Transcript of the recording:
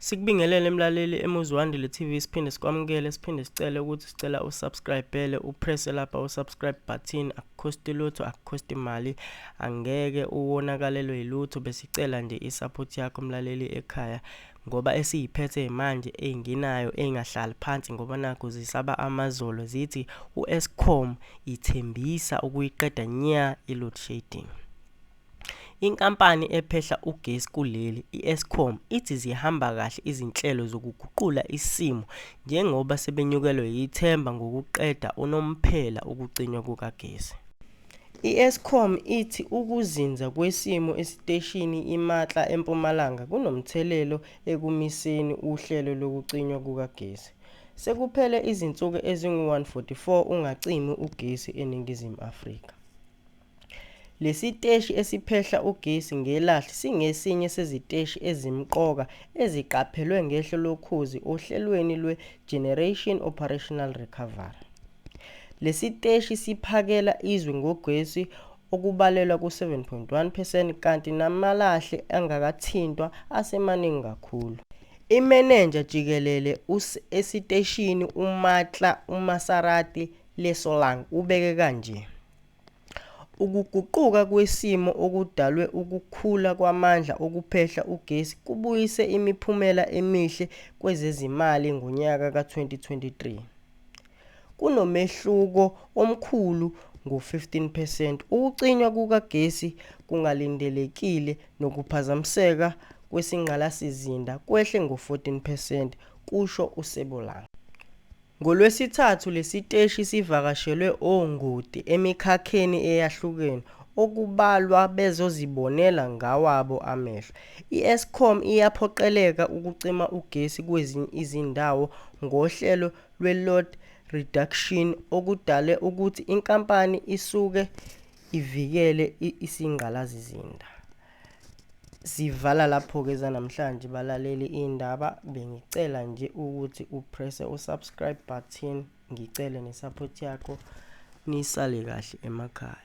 Sikubingelele mlaleli eMuzwandile TV siphinde sikwamukele siphinde sicele ukuthi sicela usubscribele upress lapha usubscribe button akukhosti lutho akukhosti mali angeke uwonakalelwe yilutho besicela nje isupport yakho mlaleli ekhaya ngoba esiyiphethe manje enginayo engahlali phansi ngoba nakho zisaba amazolo zithi uEscom ithembisa ukuyiqeda nya iload shedding Inkampani ephehla ugesi kuleli, i-Eskom, ithi zihamba kahle izinhlelo zokuguqula isimo njengoba sebenyukelwe yithemba ngokuqeda unomphela ukucinywa kukagesi. I-Eskom ithi ukuzinza kwesimo esiteshini iMatla eMpumalanga kunomthelelo ekumiseni uhlelo lokucinywa kukagesi. Sekuphele izinsuku ezingu-144 ungacimi ugesi eNingizimu Afrika. Lesiteshi esiphehla ugesi ngelahle singesinye seziteshi ezimqoka eziqaphelwe ngehlo lokhozi ohlelweni lwe Generation Operational Recovery. Lesiteshi siphakela izwe ngogesi okubalelwa ku 7.1 percent kanti namalahle angakathintwa asemaningi kakhulu. Imenenja jikelele esiteshini uMatla uMasarati Lesolang ubeke kanje. Ukuguquka kwesimo okudalwe ukukhula kwamandla okuphehla ugesi kubuyise imiphumela emihle kwezezimali ngonyaka ka-2023. Kunomehluko omkhulu ngo-15 percent. Ukucinywa kukagesi kungalindelekile nokuphazamiseka kwesingqalasizinda kwehle ngo-14 percent, kusho uSebolanga. NgoLwesithathu lesiteshi sivakashelwe ongoti emikhakheni eyahlukene okubalwa bezozibonela ngawabo amehlo. I-Eskom iyaphoqeleka ukucima ugesi kwezinye izindawo ngohlelo lwe-load reduction okudale ukuthi inkampani isuke ivikele isingqalazizinda. Sivala lapho ke zanamhlanje balaleli indaba bengicela nje ukuthi u press u subscribe button ngicele ne support yakho nisale kahle emakhaya.